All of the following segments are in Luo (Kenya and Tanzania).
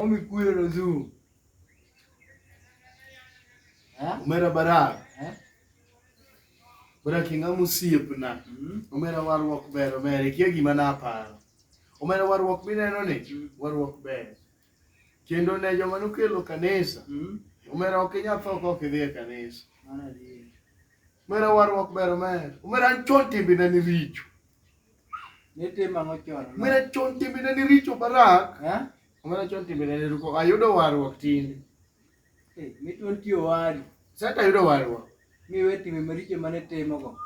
Wamekuja na zoo. Omera barak. Barak inga musiepna. Mm-hmm. Omera warruok ber omer ikia gima naparo. Omera warruok mineno ni mm-hmm. warruok ber. Kendo ne joma nokelo kanisa. Mm-hmm. Omera ok inyal tho kok idhi e kanisa. Omera warruok ber omer. Omera an chon timbena ni richo. Nitimo ang'o chon? Omera chon timbene ni richo barak. Eh? Omera chon timbene ni ruko. Ayudo warruok tinde. Eh, mitwa nitie owadu. Sata ayudo warruok. Miwe timbe maricho mane timogo.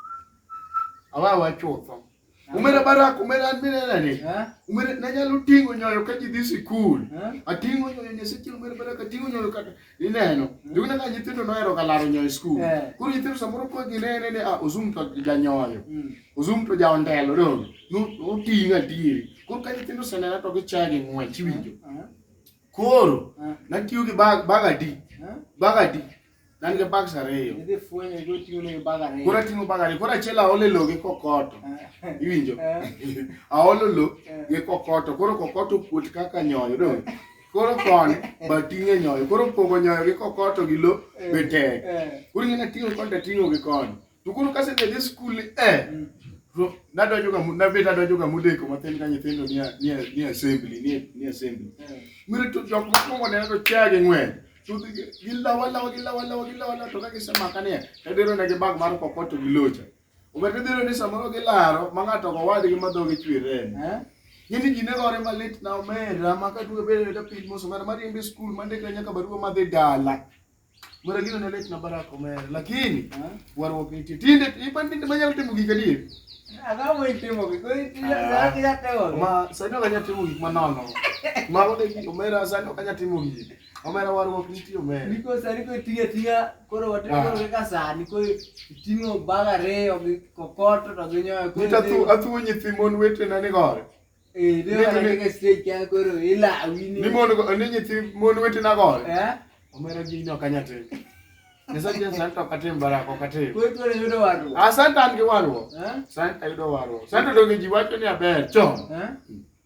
Awawa chutho. Eh? Omera barak, omera an minena ni. Eh? Omera nanyalo ting'o nyoyo ka ji dhi sikul. Eh? Ating'o nyoyo nyaseche omera barak, ating'o nyoyo kata. ineno jugna ka nyithindo nohero ga laro nyoyo e skul eh. koro nyithindo samoro ko ginene ni ah, ozum to janyoyo hmm. ozum to jaondelo dong noting'o adieri koro ka nyithindo osenena to gichaya gi ng'wech iwinjo eh, eh. koro natiyo gi bag adi bag adi nan gi bags ariyo koro ating'o bag ariyo koro achiel aolo e lo gi kokoto iwinjo aolo lo gi kokoto koro kokoto kuot kaka nyoyo dong koro koni ba ting'e nyoyo koro pogo nyoyo gi kokoto gi lo eh, be tek eh. koro ing'e ting'o koni to ting'o gi koni to koro kase dhi dhi skul eh mm. nadonjo ga nabet adonjo ga modeko matin ka nyithindo ni ni ni assembly ni ni assembly eh. mire to jok mokwongo neno to chia gi ng'wen to gilawa lawa gilawa lawa gilawa lawa to ka gisemaka niya tadero ne gi bag mar kokoto gi locha Obed midhiero ni samoro gilaro ma ng'ato go wadgi ma dhogi chwer remo. Eh? Yini ji ne gore malit na omera ma ka dwe bedo da piny moso ng'ato mar yembe skul ma ndikre nyaka barua ma dhi dala. Mara gino ne lit na Barack omera lakini eh? warruok nitie. Tinde ipan tinde manyalo timo gik adier. Agamo itimo gik ma sani ok anyal timo gik manono. Mago de omera sani ok anyal timo gik. Omera warruok nitie omera. Niko sani ko tiyo atiya koro watimo ah. kaka sani ko ting'o bag ariyo gi kokoto to gi nyoyo. Nita tu atuo nyithi mon wetena ni gore. Eh, dwe wale kaka stage kya koro ila awini. Ni mon ni nyithi mon wetena gore. Eh? Omera gi nyo kanyate. Nyasaye Yesu anto katim baraka katim. Kowe tuone yudo warruok. Ah, santa an gi warruok. Eh? Santa yudo warruok. Santa donge ji wacho ni aber chon. Eh?